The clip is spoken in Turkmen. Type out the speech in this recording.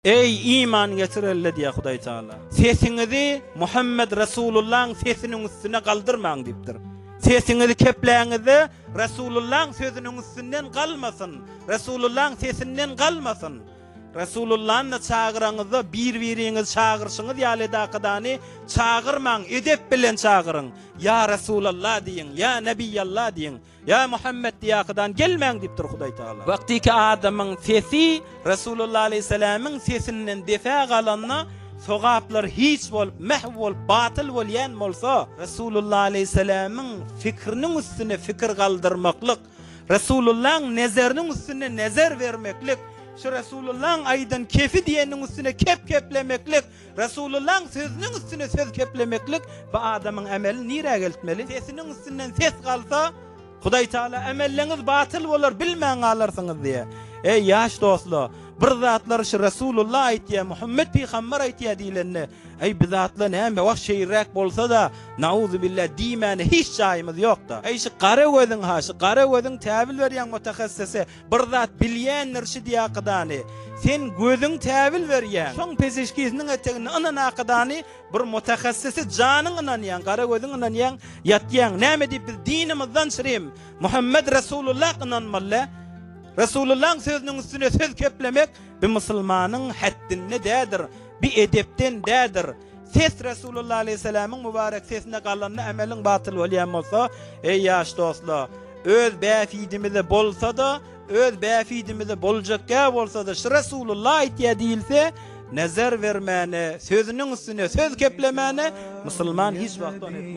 Eý, iman getirenle diýýär Hudaý Tagala. Sesiňizi Muhammet Resulullahyň sesiniň üstüne galdyrmaň diýipdir. Sesiňizi kepläňizde, Resulullahyň sözüniň üstünden galmasyn, Resulullahyň sesinden galmasyn. Resulullany çagyraňyzda bir-biriňizi çagyryşyňyz ýaly edakydany çagyrmaň, edep bilen çagyryň. Ýa Resulallah diýiň, ýa Nebiýallah diýiň. Ýa Muhammet diýakydan gelmäň diýipdir Hudaý Tagala. Wagtyky adamyň sesi Resulullah aleýhissalamyň sesinden desä galanda sogaplar hiç bolup, mähw bolup, batyl bolýan bolsa, Resulullah aleýhissalamyň fikriniň üstüne fikir galdyrmaklyk, Resulullahyň nezeriniň üstüne nezer bermeklik, şu Resulullahyň aýdan kefi diýeniniň üstüne kep keplemeklik, Resulullah sözüniň üstüne söz keplemeklik bu adamyň ämelini nirä geltmeli? Sesiniň üstünden ses galsa, Hudaý Taala ämelleňiz batyl bolar bilmän galarsyňyz diýýär. Eý ýaş dostlar, bir zatlary şu Resulullah aýtýar, Muhammet pygamber aýtýar diýlende, Eý biz atla näme wah şeýräk bolsada, nauzubillah diýmäne hiç jaýymyz ýokda. Eý şu gara gözüň ha, şu gara gözüň täwil berýäň mutahassysy, Bir zat bilýändir şi diýakydany, Sen gözüň täbil berýäň. Şoň peşeşkisiniň eteginde ynanakydany, Bir mutahassysy janyň ynanýaň, Gara gözüň ynanýaň, ýatýaň. Näme diýip biz dinimizden şrim, Muhammet Resulullah ynanmaly? Resulullaň sözüniň üstüne söz keplemek bi musulmanyň häddinde dädir, bi edepden dädir. Ses Resulullah aleýhissalamiň mubarek sesine galanda ameliň batyl bolýan bolsa, eý ýaş dostlar, öz bähbidimize bolsa-da, öz bähbidimize boljak gäp bolsa-da şu Resulullah aýtýar diýilse, nezer bermäne, sözüniň üstüne söz keplemäne musulman hiç wagt ony etmez.